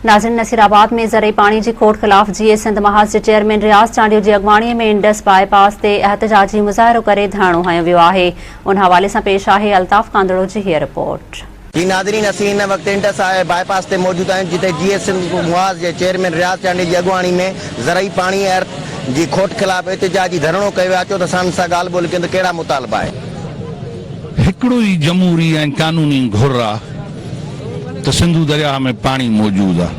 ناظرين نصير آباد ۾ زرعي پاڻي جي کوٽ خلاف جيئي سنڌ محاذ جي چيئرمين رياض چانڊيو جي اڳواڻي ۾ انڊس باء پاس تي احتجاجي مظاهرو ڪري ڌرڻو هنيو ويو آهي ان حوالي سان پيش آهي الطاف ڪانڌڙو جي هيء رپورٽ. جي ناظرين اسين هن وقت انڊس باء پاس تي موجود آهيون جتي جيئي سنڌ محاذ جي چيئرمين رياض چانڊيو جي اڳواڻي ۾ زرعي پاڻي ۽ ارٿ جي کوٽ خلاف احتجاجي ڌرڻو ڪيو ويو آهي اچو ته اسان سان ڳالهه ٻولهه ڪيون ته ڪهڙا مطالبا آهن. هڪڙو ئي جمهوري ۽ قانوني گهر آ. ته سنڌو درياهه ۾ پاڻي موجود آ.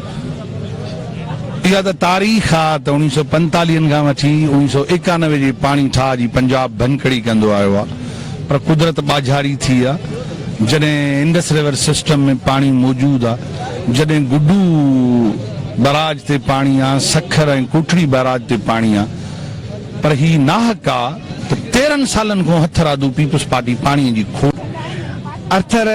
اها ته تاريخ آ ته اوڻيهه سؤ پنتاليهن کان وٺي اوڻيهه سؤ ايڪانوي جي پاڻي ٺاهه جي پنجاب ڀڃڪڙي ڪندو آيو آ پر قدرت ٻاجهاري ٿي آ جڏهن انڊس ريور سسٽم ۾ پاڻي موجود آ جڏهن گڊو بئراج تي پاڻي آ سکر ۽ ڪوٽڙي بئراج تي پاڻي آ پر هي ناحق آ ته تيرهن سالن کون هٿرادو پيپلز پارٽي پاڻي جي کوٽ ارٿر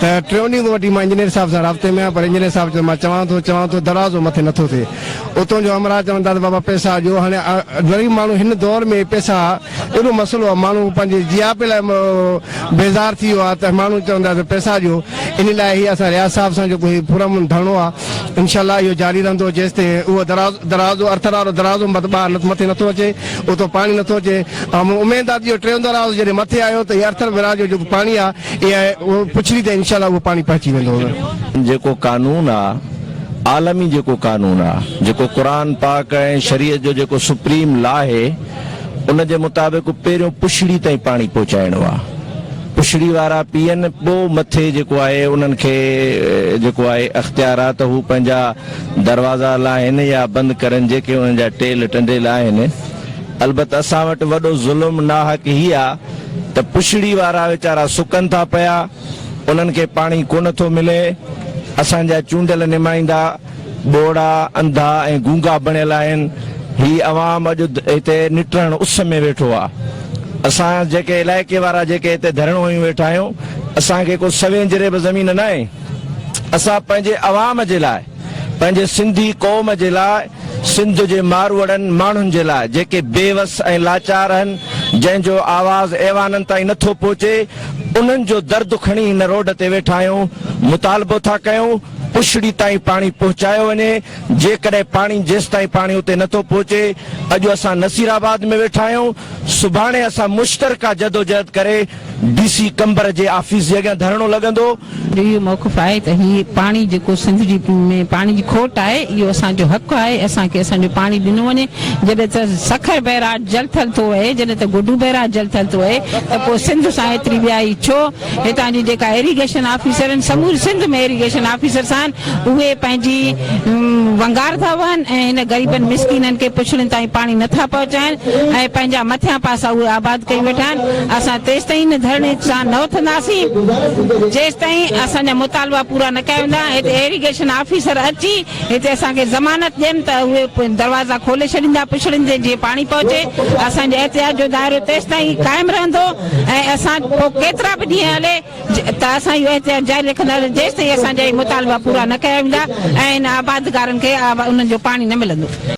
ته ٽيون ڏينهن کان وٺي مان انجنيئر صاحب سان رابطي ۾ آهيان پر انجنيئر صاحب چيو ته مان چوان ٿو چوان ٿو دروازو مٿي نه ٿو ٿئي اتون جو همراهه چون ٿا ته بابا پئسا ڏيو هاڻي غريب ماڻهو هن دور ۾ پئسا اهڙو مسئلو آهي ماڻهو پنهنجي جياپي لاء بيزار ٿي ويو آهي ته ماڻهو چون ٿا ته پئسا ڏيو ان لاء هي اسان رياض صاحب سان جيڪو هي پرامن ڌرڻو آهي انشاء الله اهو جاري رهندو جيستائين اهو دروازو ارٿر وارو دروازو ٻاهر مٿي نه ٿو اچي اتو پاڻي نه ٿو اچي اميد آهي ته اهو ٽيون دروازو جڏهن مٿي آيو ته هي ارٿر وراج جو جيڪو پاڻي آهي اي آء پڇري ته انشاء الله اهو پاڻهي پهچي ويندو. جيڪو قانون آ عالمي جيڪو قانون آ جيڪو قرآن پاڪ ۽ شريعت جو جيڪو سپريم لا هي ان جي مطابق پهريون پڇڙي تائين پاڻي پهچائڻو آ پڇڙي وارا پيئن پو مٿي جيڪو آهي انهن کي جيڪو آهي اختيار آ ته هو پنهنجا دروازا لاهين يا بند ڪرن جيڪي انهن جا ٽيل ٽنڊيل آهن البت اسان وٽ وڏو ظلم ناحق هي آ ته پڇڙي وارا ويچارا سڪن ٿا پيا، انهن کي پاڻي ڪونه ٿو ملي، اسان جا چونڊيل نمائندا ٻوڙا، انڌا ۽ گونگا بڻيل آهن، هي عوام اڄ هتي نٽرڻ اس ۾ ويٺو آ، اسان جيڪي علائقي وارا جيڪي هتي ڌرڻو هنيون ويٺا آهيون، اسان کي ڪو سوين جريب زمين ناهي، اسان پنهنجي عوام جي لاء. پنهنجي سنڌي قوم جي لاء، سنڌ جي ماروئڙن ماڻهن جي لاء جيڪي بي وس ۽ لاچار آهن، جنهن جو آواز ايوانن تائين نه ٿو پهچي، انهن جو درد کڻي هن روڊ تي ويٺا آهيون، مطالبو ٿا ڪيون پڇڙي تائين پاڻي پهچايو وڃي، جيڪڏهن پاڻي جيستائين پاڻي اتي نه ٿو پهچي، اڄ اسان نصيرآباد ۾ ويٺا آهيون، سڀاڻي اسان مشترڪه جدوجهد ڪري، ڊي سي قمبر جي آفيس جي اڳيان ڌرڻو لڳندو. جو اهو موقف آهي ته هي پاڻي جيڪو سنڌ جي ۾ پاڻي جي کوٽ آهي اهو اسان جو حق آهي اسان کي اسان جو پاڻي ڏنو وڃي جڏهن ته سکر بئراج جل ٿل ٿو وهي جڏهن ته گڊو بئراج جل ٿل ٿو وهي ته پوء سنڌ سان هيتري ٻيائي ڇو هتان جي جيڪا ايريگيشن آفيسر آهن سموري سنڌ ۾ ايريگيشن آفيسرس آهن اهي پنهنجي ونگار ٿا وهن ۽ هن غريبن مسڪينن کي پڇڙين تائين پاڻي نه ٿا پهچائين ۽ پنهنجا مٿيان پاسا اهي آباد ڪيئي ويٺا آهن، اسان تيستائين هن ڌرڻي سان نه اٿنداسين جيستائين اسان جا مطالبا پورا نه ڪيا ويندا، هتي ايريگيشن آفيسر اچي هتي اسان کي ضمانت ڏين ته اهي دروازا کولي ڇڏيندا پڇڙين تي جيئن پاڻي پهچي، اسان جي احتجاج جو دائرو تيستائين قائم رهندو ۽ اسان پوء ڪيترا به ڏينهن هلي. ته اسان اهو احتجاج جاري رکنداسين جيستائين اسان جا هي مطالبا پورا نه ڪيا ويندا ۽ هن آبادگارن کي انهن جو پاڻي نه ملندو.